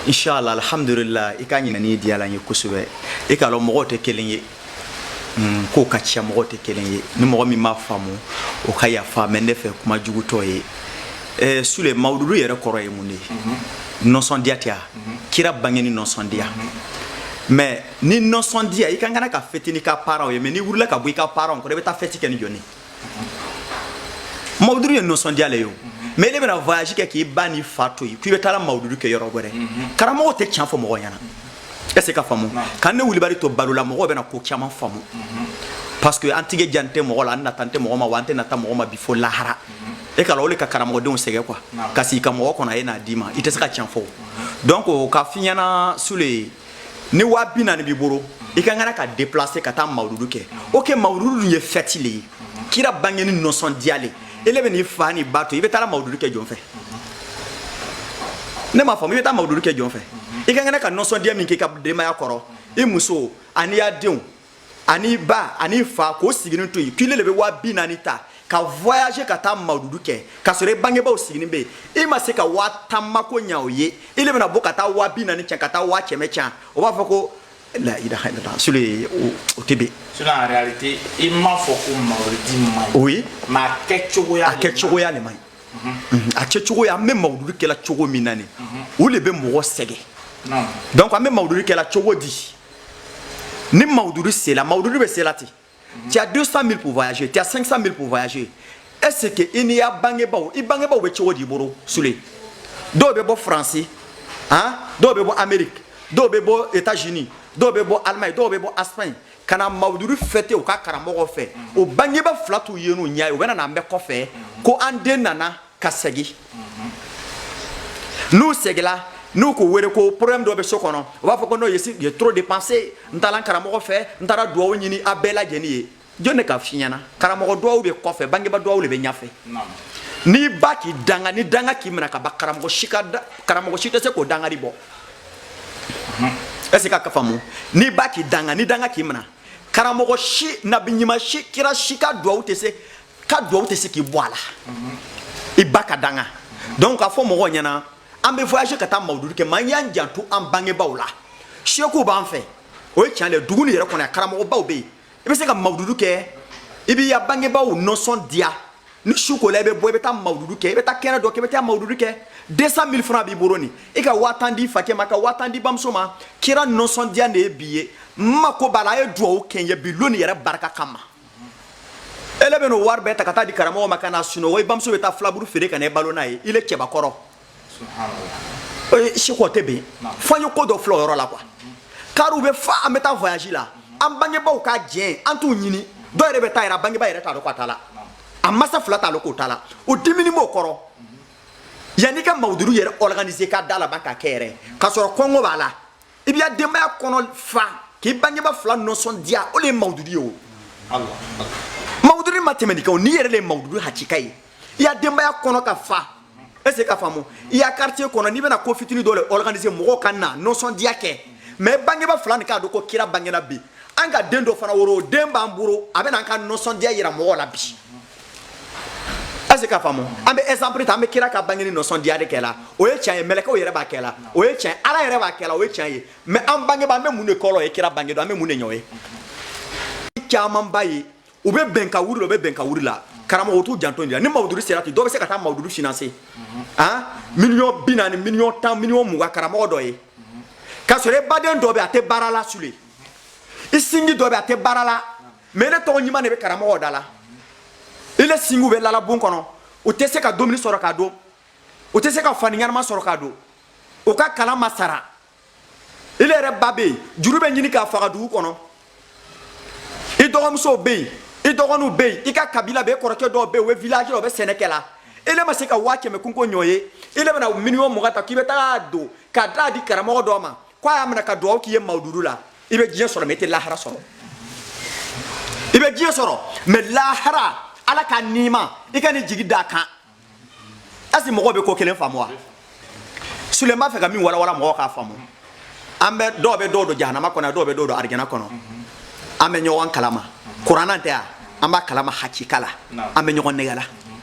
inshallah alhamdulillah i ka ɲininkali diyala n ye kosɛbɛ i k'a lɔn mɔgɔw tɛ kelen ye mm, kow ka ca mɔgɔw tɛ kelen ye ni mɔgɔ min m'a faamu o ka yafa mais ne fɛ kuma jugutɔ ye eh, sule mawududu yɛrɛ kɔrɔ ye mun de ye mhm. nɔsɔndiya tɛ wa mhm. kira bangeni nɔsɔndiya mhm. mais ni nɔsɔndiya i ka kan ka fêter n'i ka parents ye mais n'i wulila ka bɔ i ka parents kɔrɔ i bɛ taa fɛti kɛ ni jɔni mawududu ye nɔsɔndiya le ye o mais i le bɛna voyage kɛ k'i ba ni fa to yen k'i bɛ taala mawududu kɛ yɔrɔ wɛrɛ karamɔgɔ tɛ tiɲɛ fɔ mɔgɔ ɲɛna est ce que k'a faamu ka ne kulibali to balo la mɔgɔw bɛna ko caman faamu parce que an tigɛ jan tɛ mɔgɔ la an nata tɛ mɔgɔ ma wa an tɛ nata mɔgɔ ma bi fo lahara e k'a lɔn o de ka karamɔgɔdenw sɛgɛn quoi ka sigi ka mɔgɔ kɔnɔ a ye n'a d'i ma i tɛ se ka tiɲɛ fɔ donc k'a f'i ɲɛna sule ni waa bi naani b'i bolo i ka kan ka déplacer ka taa mawududu kɛ ok mawududu ye fɛti le ye kira bangeni nɔsɔndiya le i le bɛn'i fa ni ba to i bɛ taara mawududu kɛ jɔn fɛ ne m'a faamu i bɛ taa mawududu kɛ jɔn fɛ i ka kan ka nɔsɔndiya min k'i ka denbaya kɔrɔ i muso an'i ya denw ani ba ani fa k'o siginin to yen k'i le bɛ waa bi naani ta ka voyager ka taa mawududu kɛ k'a sɔrɔ i bangebaaw siginin bɛ yen i ma se ka waa tan mako ɲa o ye i le bɛna bɔ ka taa waa bi naani can ka taa waa kɛmɛ can o b'a fɔ ko la ilaha illallah sule o tɛ bɛn sinon en réalité i m'a fɔ ko mawuludi man ɲi oui mais a kɛcogoya a kɛcogoya le man ɲi a kɛcogoya an bɛ mawududu kɛla cogo min na nin o le bɛ mɔgɔ sɛgɛn donc an bɛ mawududu kɛla cogo di ni mawududu sela mawududu bɛ sela ten tu as 200 000 pour voyager tu as 500 000 pour voyager est ce que i n'i ya bangebaaw i bangebaaw bɛ cogo d'i bolo sule dɔw bɛ bɔ faransi han dɔw bɛ bɔ amerique dɔw bɛ bɔ états unis dɔw bɛ bɔ allemagne dɔw bɛ bɔ espagne ka na mawududu fêter u ka karamɔgɔ fɛ o bangebaa fila t'u ye n'u ɲɛ ye u bɛna n'a mɛn kɔfɛ ko an den nana ka segi n'u segila n'u k'u wele ko problème dɔ bɛ so kɔnɔ u b'a fɔ ko non j'ai trop dépensé n taara n karamɔgɔ fɛ n taara duwawu ɲini a bɛɛ lajɛlen ye jɔn de k'a f'i ɲɛna karamɔgɔ duwawu bɛ kɔfɛ bangebaa duwawu de bɛ ɲɛfɛ n'i ba k'i danga ni danga k'i minɛ ka ban karamɔgɔ si ka karamɔgɔ si tɛ se k'o dangari bɔ est-ce que k'a faamu n'i ba k'i danga ni danga k'i minɛ karamɔgɔ si nabi ɲuman si kira si ka duwawu tɛ se ka duwawu tɛ se k'i bɔ a la i ba ka danga donc k'a fɔ mɔgɔw ɲɛna an bɛ voyager ka taa mawududu kɛ mais an y'an janto an bangebaaw la seku b'an fɛ o ye tiɲɛ de dugu nin yɛrɛ kɔnɔ yan karamɔgɔbaw bɛ yen i bɛ se ka mawududu kɛ i b'i ya bangebaaw nɔsɔndiya ni su kola i bɛ bɔ i bɛ taa mawududu kɛ i bɛ taa kɛnɛ dɔ kɛ i bɛ taa mawududu kɛ 200 mille francs b'i bolo nin i ka waa tan di fakɛ ma ka waa tan di bamuso ma kira nɔsɔndiya de ye bi ye n mako b'a la a ye duwawu kɛ n ye bi lon nin yɛrɛ barika kama ele bɛn'o wari bɛɛ ta ka taa di karamɔgɔ ma ka na sunɔgɔ i bamuso bɛ taa filaburu feere ka na i balo n'a ye i le cɛbakɔrɔ seku o tɛ bɛn fo an ye ko dɔ filɛ o yɔrɔ la quoi kariw bɛ fa an bɛ taa voyage la an bangebaaw ka jɛn an t'u ɲini dɔw yɛrɛ bɛ taa yɛrɛ a bangebaa yɛrɛ t'a dɔn ko a taala a masa fila t'a dɔn k'o taala o diminin b'o kɔrɔ yanni ka mawuduru yɛrɛ organiser ka da laban ka kɛ yɛrɛ k'a sɔrɔ kɔngɔ b'a la i b'i ya denbaya kɔnɔ fa k'i bangeba fila nɔsɔndiya o le ye mawududi ye o mawududi ma tɛmɛ nin kan o n'i yɛrɛ le ye mawududi hakika ye i ya denbaya kɔnɔ ka fa est ce que ka faamu i ya quartier kɔnɔ n'i bɛna ko fitinin dɔ le organiser mɔgɔw ka na nɔsɔndiya kɛ mais bangeba fila nin k'a dɔn ko kira bangena bi an ka den dɔ fana woroden b'an bolo a bɛna an ka nɔsɔndiya yira mɔgɔw la bi est ce que ka faamu an bɛ exemple ta an bɛ kira ka bangeni nɔsɔndiya de kɛla o ye tiɲɛ ye mɛlɛkɛw yɛrɛ b'a kɛla o ye tiɲɛ ala yɛrɛ b'a kɛla o ye tiɲɛ ye mais an bangebaa an bɛ mun de k'olu ye kira bange don an bɛ mun de ɲ'o ye camanba ye u bɛ bɛn ka wuri la u bɛ bɛn ka wuri la karamɔgɔ t'u janto nin la ni mawududi sera ten dɔw bɛ se ka taa mawududi financer han miliyɔn bi naani miliyɔn tan miliyɔn mugan karamɔgɔ dɔ ye k'a sɔrɔ e baden dɔ bɛ a tɛ baara la sule i sinji dɔ bɛ a tɛ baara la mais i le tɔgɔ ɲuman de bɛ karamɔgɔ da la i le sinjiw bɛ lalabon kɔnɔ u tɛ se ka dumuni sɔrɔ k'a dun u tɛ se ka fani ɲɛnama sɔrɔ k'a don u ka kalan ma sara i le yɛrɛ ba bɛ yen juru bɛ ɲini k'a faga dugu kɔnɔ i dɔgɔmusow bɛ yen i dɔgɔninw bɛ yen i ka kabila bɛ yen kɔrɔkɛ dɔw bɛ yen u bɛ village la u bɛ sɛnɛ kɛ la i le ma se ka waa kɛmɛ kunko ɲ'o ye i le bɛna miliyɔn mugan ta k'i bɛ taga don k'a d'a di karamɔgɔ dɔ ma ko a y'a minɛ ka duwawu k'i ye mawududu la i bɛ diɲɛ sɔrɔ mais i tɛ lahara sɔrɔ i bɛ diɲɛ sɔrɔ mais lahara ala ka nima i kan'i jigi d'a kan est ce que mɔgɔw bɛ ko kelen faamu wa sule n b'a fɛ ka min walawala mɔgɔw k'a faamu an bɛ dɔw bɛ dɔw don jahanama kɔnɔ dɔw bɛ dɔw don arijana kɔnɔ an bɛ ɲɔgɔn kalama kuranna tɛ yan an b'a kalama hakika la an bɛ ɲɔgɔn nɛgɛ la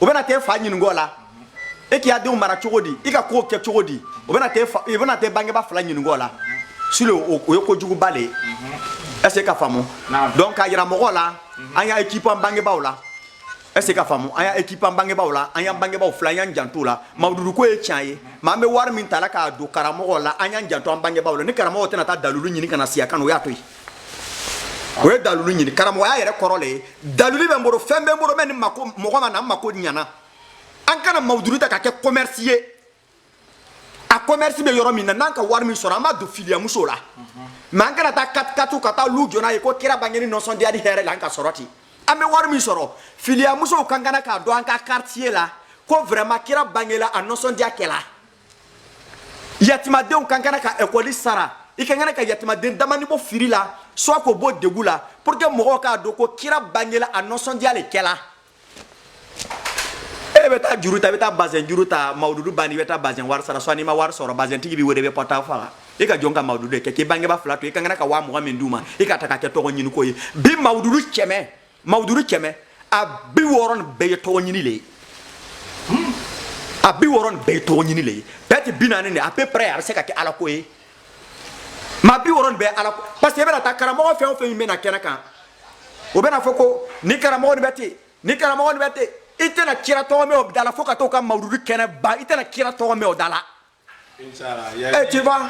o bɛna t'e fa ɲinink'o la e k'i ya denw mara cogo di i ka ko kɛ cogo di o bɛna t'e bangeba fila ɲinink'o la su o ye ko juguba de ye est ce que ka faamu donc k'a yira mɔgɔw la an y'occuper an bangebaw la est ce que ka faamu an y'occuper an bangebaw la an y'an bangebaw fila y'an jant'o la mawududuko ye tiɲɛ ye mais an bɛ wari min ta la k'a don karamɔgɔ la an y'an janto an bangebaw la ni karamɔgɔ tɛna taa dalilu ɲini kana na siya kan o y'a to yen o ye dalilu ɲini karamɔgɔya yɛrɛ kɔrɔ le ye dalili bɛ n bolo fɛn bɛ n bolo mɛ ni mako mɔgɔ ma na n mako ɲana an kana mawuduru ta ka kɛ commerce ye a commerce bɛ yɔrɔ min na n'an ka wari min sɔrɔ an b'a don filiyamusow la mais an kana taa katikatu ka taa lu jɔ n'a ye ko kira bangeni nɔsɔndiya ni hɛrɛ la an ka sɔrɔ ten an bɛ wari min sɔrɔ filiyamusow ka kan k'a dɔn an ka quartier la ko vraiment kira bangela a nɔsɔndiya kɛla yatimadenw ka kan ka ekɔli sara i ka kan ka yatimaden damani bɔ firi la soit k'o bɔ degu la pour que mɔgɔw k'a dɔn ko kira bangela a nɔsɔndiya le kɛla e bɛ taa juru ta i bɛ taa bazɛn juru ta mawududu banni i bɛ taa bazɛn wari sara soit n'i ma wari sɔrɔ bazɛntigi b'i wele i bɛ portable faga i ka jɔn ka mawududu de kɛ k'i bangeba fila to i ka kan ka waa mugan min d'u ma i k'a ta ka kɛ tɔgɔ ɲiniko ye bi mawududu kɛmɛ mawuduru kɛmɛ a bi wɔɔrɔ nin bɛɛ ye tɔgɔ ɲini le ye a bi wɔɔrɔ nin bɛɛ ye tɔgɔ ɲini le ye bɛɛ tɛ bi naani de à peu près a bɛ se ka kɛ ala ko ye mais bi wɔɔrɔ nin bɛɛ ala ko parce que i bɛna taa karamɔgɔ fɛn o fɛn min bɛ na kɛnɛ kan o bɛna fɔ ko ni karamɔgɔ nin bɛ ten ni karamɔgɔ nin bɛ ten i tɛna kira tɔgɔ mɛn o da la fo ka t'o ka mawuduru kɛnɛ ban i tɛna kira tɔgɔ mɛn o da la Eh, tu vois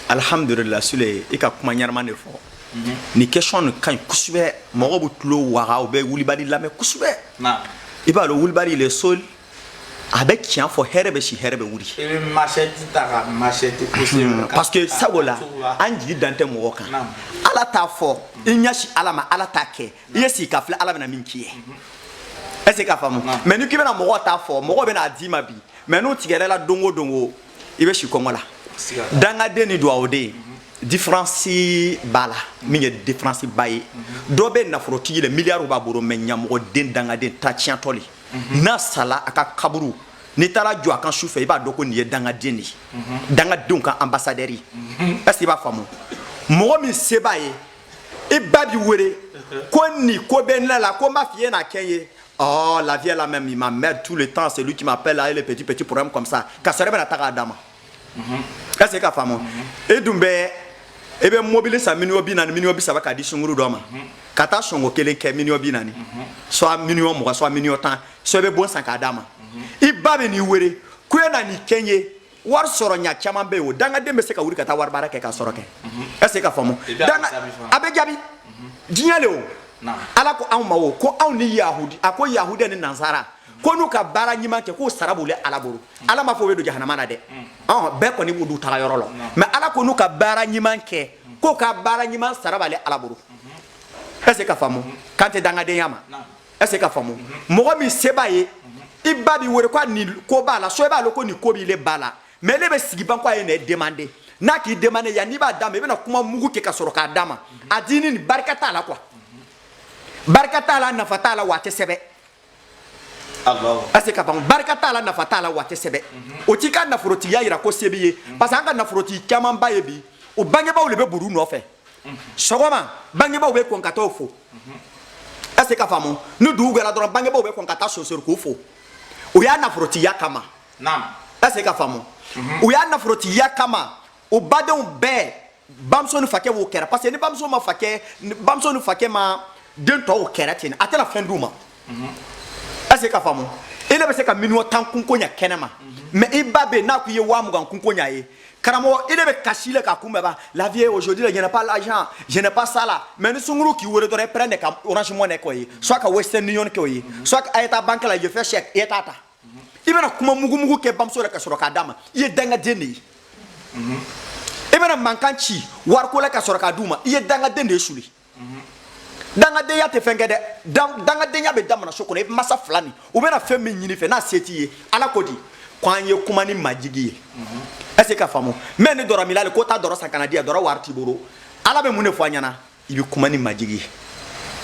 alhamdulillah sule i ka kuma ɲɛnama de fɔ mhm. ni question nin ka ɲi kosɛbɛ mɔgɔw bɛ tulo waga u bɛ wulibali lamɛn kosɛbɛ i b'a dɔn wulibali le sol a bɛ tiɲɛ fɔ hɛrɛ bɛ si hɛrɛ bɛ wuli mhm. parce que sabula an jigi dan tɛ mɔgɔ kan ala ta fɔ i ɲɛsin ala ma ala ta kɛ i ye sigi k'a filɛ ala bɛna min k'i ye mhm. est ce que k'a faamu mais ni k'i bɛna mɔgɔ ta fɔ mɔgɔ bɛna a d'i ma bi mais n'u tigɛr'i la don o don o i bɛ si kɔngɔ la dangaden ni duwawuden diferansi b'a la min ye diferansi ba ye dɔ bɛ nafolotigi le miliyariw b'a bolo mais ɲamɔgɔden dangaden ta tiɲɛtɔ le n'a sala a ka kaburu n'i taara jɔ a kan su fɛ i b'a dɔn ko nin ye dangaden de ye dangadenw ka ambassadeur ye est ce que i b'a faamu mɔgɔ min se b'a ye i ba b'i wele ko nin ko bɛ ne la ko n b'a f'i ye n'a kɛ n ye Oh, la vieille là même, il m'emmerde tout le temps, c'est lui qui m'appelle là, et les petits, petits problèmes comme ça. Ka sɔrɔ i bɛna taa k'a d'a ma. Est-ce que i k'a faamu? E dun bɛ, i bɛ mobili san miliyɔn bi naani, miliyɔn bi saba k'a di sunguru dɔ ma. Ka taa sɔngɔ kelen kɛ miliyɔn bi naani soit miliyɔn mugan soit miliyɔn tan soit i bɛ bon san k'a d'a ma i ba bɛn'i wele ko e na nin kɛ n ye wari sɔrɔ ɲa caman bɛ yen o dangaden bɛ se ka wuli ka taa wari baara kɛ ka sɔrɔ kɛ est ce que k'a faamu a bɛ jaabi diɲɛ le o ala ko anw ma o ko anw ni yahudi a ko yahudiya ni nansara ko n'u ka baara ɲuman kɛ k'o sara b'u le ala bolo ala ma fɔ o bɛ don jahanama na dɛ ɔn bɛɛ kɔni b'u taga yɔrɔ lɔn mais ala ko n'u ka baara ɲuman kɛ k'o ka baara ɲuman sara b'ale ala bolo est ce que k'a faamu kan tɛ dangadenya ma est-ce k'a faamu mɔgɔ min se b'a ye i ba b'i wele ko nin ko b'a la so i b'a lɔn ko nin ko b'ile ba la mais ile bɛ sigi ban ko a ye ne demander n'a k'i demander yani i b'a d'a ma i bɛna kuma mugu kɛ ka sɔrɔ k'a d'a ma a diini nin barika t'a la quoi barika t'a la nafa t'a la wa a tɛ sɛbɛ est-ce ka ban barika t'a la nafa t'a la wa a tɛ sɛbɛ o t'i ka nafolotigiya yira ko se b'i ye parce que an ka nafolotigi camanba ye bi o bangebaaw de bɛ buru nɔfɛ sɔgɔma bangebaaw bɛ kɔn ka taa o fo est-ce k'a faamu ni dugu gɛra dɔrɔn bangebaaw bɛ kɔn ka taa sonsori k'u fo o y'a nafolotigiya kama est-ce k'a faamu mhm. o y'a nafolotigiya kama u badenw bɛɛ bamuso ni fakɛ b'o kɛrɛ parce que ni bamuso ma fakɛ bamuso ni fakɛ ma den tɔw kɛrɛ ten a tɛna fɛn d'u ma est-ce k'a faamu ile bɛ se ka miliyɔn tan kunko ɲa kɛnɛ ma mais i ba bɛ na ko i ye waa mugan kunko ɲa ye karamɔgɔ ile bɛ kasi le k'a kunbɛn ba la vie aujourd'hui là je n'ai pas l'argent je n'ai pas ça là mais ni sunguru k'i wele dɔrɔn i prêt ka orange money k'o ye soit ka western union k'o ye soit a ye taa banque la je fais chèque i ye t'a ta i bɛna kuma mugumugu kɛ bamuso la ka sɔrɔ k'a d'a ma i ye dangaden de ye i bɛna mankan ci wariko la ka sɔrɔ k'a d'u ma i ye dangaden de ye suli dangadenya tɛ fɛn kɛ dɛ dangadenya bɛ damina so kɔnɔ i masa fila nin u bɛna fɛn min ɲini i fɛ n'a se t'i ye ala ko di ko an ye kuma ni majigi ye est ce k'a faamu mais ni dɔrɔminna le ko taa dɔrɔ san ka n'a di yan dɔrɔ wari t'i bolo ala bɛ mun de fɔ an ɲɛna i bɛ kuma ni majigi ye